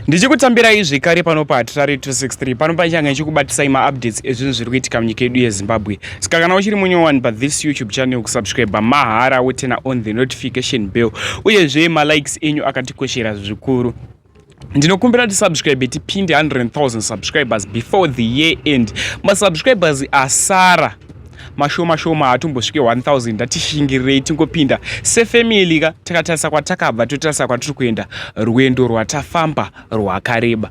ndichikutambirai zvekare pano pahatirari 263 pano pachange ichikubatisai maupdates ezvinhu zviri kuitika munyika yedu yezimbabwe saka kana uchiri munye one but this youtube channel kusubscribe mahara wotena on the notification bell uyezve malikes enyu akatikoshera zvikuru ndinokumbira tisubscribe tipinde 100000 subscribers before the year end masubscribers asara mashoma shoma hatumbosvike 1000 ndatishingirirei tingopinda sefamily ka takatarisa kwatakabva totarisa kwatiri kuenda rwendo rwatafamba rwakareba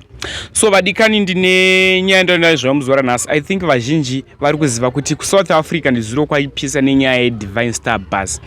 so vadikani ndine nyaya ndonayo zvamuzora nhasi i think vazhinji vari kuziva kuti kusouth africa ndizuro kwaipisa nenyaya yedivine star bus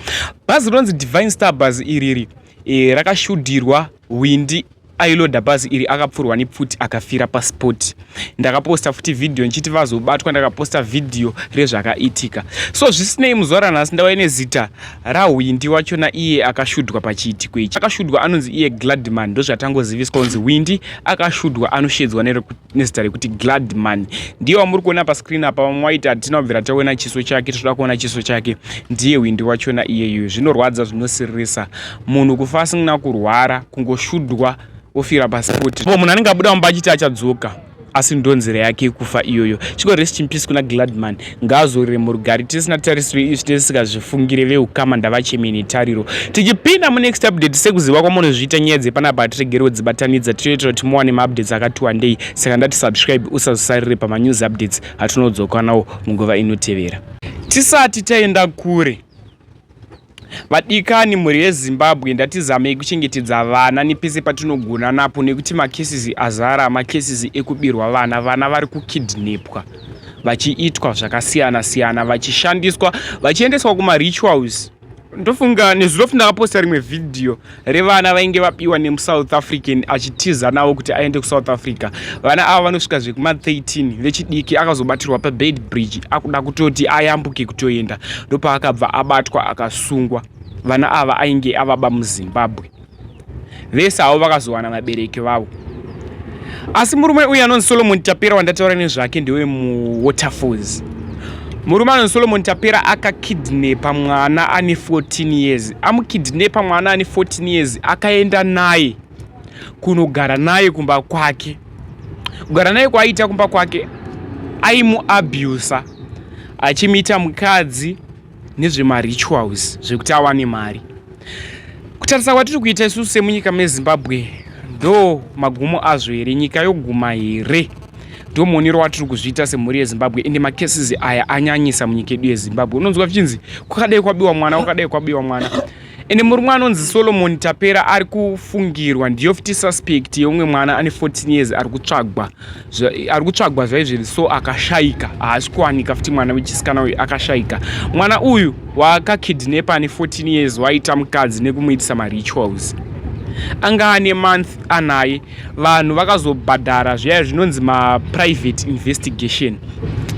bhazi rinonzi divine star bus iriri e, rakashudirwa windi ailoda bhazi iri akapfurwa nepfuti akafira paspot ndakaposta futi vhidhiyo ndichiti vazobatwa ndakaposta vhidhiyo rezvakaitika so zvisinei muzuva ranhasi ndava ine zita rahwindi wachona iye akashudwa pachiitiko ichi akashudwa anonzi iye gladman ndozvatangoziviswa kunzi hwindi akashudwa anoshedzwa nerekuti nezita rekuti gladman ndiye wamuri kuona pascreen apa vamwe waiti hatina kubvira taona chiso chake tinoda kuona chiso chake ndiye hwindi wachona iyeyu zvinorwadza zvinosiririsa munhu kufa asina kurwara kungoshudwa ofira pasipoti po munhu anenge abuda mumba achiti achadzoka asi ndonzira yake kufa iyoyo chiko rest in peace kuna gladman Ngaazorore murugare tisina tarisiro izvi tisikazvifungire vehukama ndavachemeni tariro tichipinda munext update sekuziva kwamunozviita nyaya dzepanapa hatiregerewo dzibatanidza tinoitira kuti muwane maupdates akati wandei saka ndati subscribe usazosarire pamanews updates atinodzoka nawo munguva inotevera tisati taenda kure Vadikani mhuri yeZimbabwe ndatizamei kuchengetedza vana nepese patinogona napo nekuti makesisi azara makesisi ekubirwa vana vana vari kukidnepwa vachiitwa zvakasiyana siyana vachishandiswa vachiendeswa kumarituals ndofunga nezuro futi ndakaposta rimwe vhidhiyo revana vainge vapiwa nemusouth african achitiza navo kuti aende kusouth africa vana ava vanosvika zvekuma 13 vechidiki akazobatirwa pabed bridge akuda kutoti ayambuke kutoenda ndopaakabva abatwa akasungwa vana ava ainge avaba muzimbabwe vese havo vakazowana vabereki vavo asi murume uyu anonzi solomon tapera wandataura nezvake ndewe muwaterfalls murume anonzi solomon tapera akakidnepa mwana ane 14 years amukidnepa mwana ane 14 years akaenda naye kunogara naye kumba kwake kugara naye kwaaiita kumba kwake aimuabusa achimuita mukadzi nezvemarituals zvekuti awane mari kutarisa kwatiri kuita isusu semunyika mezimbabwe ndo magumo azvo here nyika yoguma here ndo muonero watiri kuzviita semhuri yezimbabwe ende macases aya anyanyisa munyika yedu yezimbabwe unonzwa zvichinzi kwakadai kwabiwa mwana kwakadai kwabiwa mwana ende murume anonzi solomon tapera ari kufungirwa ndiyo fti suspect yeumwe mwana ane 14 years ari kutsvagwa ari kutsvagwa zvaizviri so akashaika haasi kuwanika fti mwana wechisikana uyu akashaika mwana uyu waakakidnepa ane 14 years waita mukadzi nekumuitisa marituals anga ane month anaye vanhu vakazobhadhara zviya zvinonzi maprivate investigation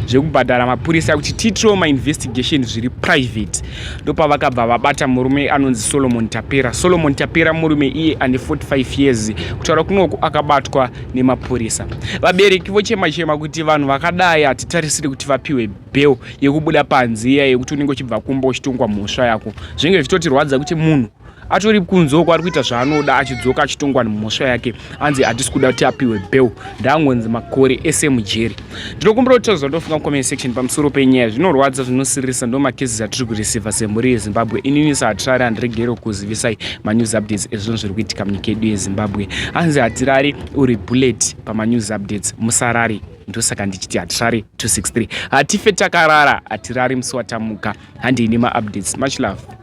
zvekubhadhara mapurisa kuti tiitrewo mainvestigation zviri private ndopavakabva vabata murume anonzi solomon tapera solomon tapera murume iye ane 45 years kutaura kunoku akabatwa nemapurisa vabereki vochema chema kuti vanhu vakadai hatitarisiri kuti vapiwe bel yekubuda panziya yekuti unenge uchibva kumba uchitongwa mhosva yako zvinenge zvichitotirwadza kuti munhu atori kunze uko ari kuita zvaanoda achidzoka achitongwa nemhosva yake anzi hatisi kuda kuti apiwe bel ndaangonzi makore ese mujeri ndinokumbira kuti tozva ndofunga comment section pamusoro penyaya zvinorwadza zvinosiririsa ndo makezi atiri kureceiva semhuri yezimbabwe inini sahatirari handiregere kuzivisai manews updates ezvinhu zviri kuitika munyika yedu yezimbabwe anzi hatirari uri bullet pamanews updates musarari ndosaka ndichiti hatirari 263 hatife takarara hatirari musi watamuka handei nemaupdates much love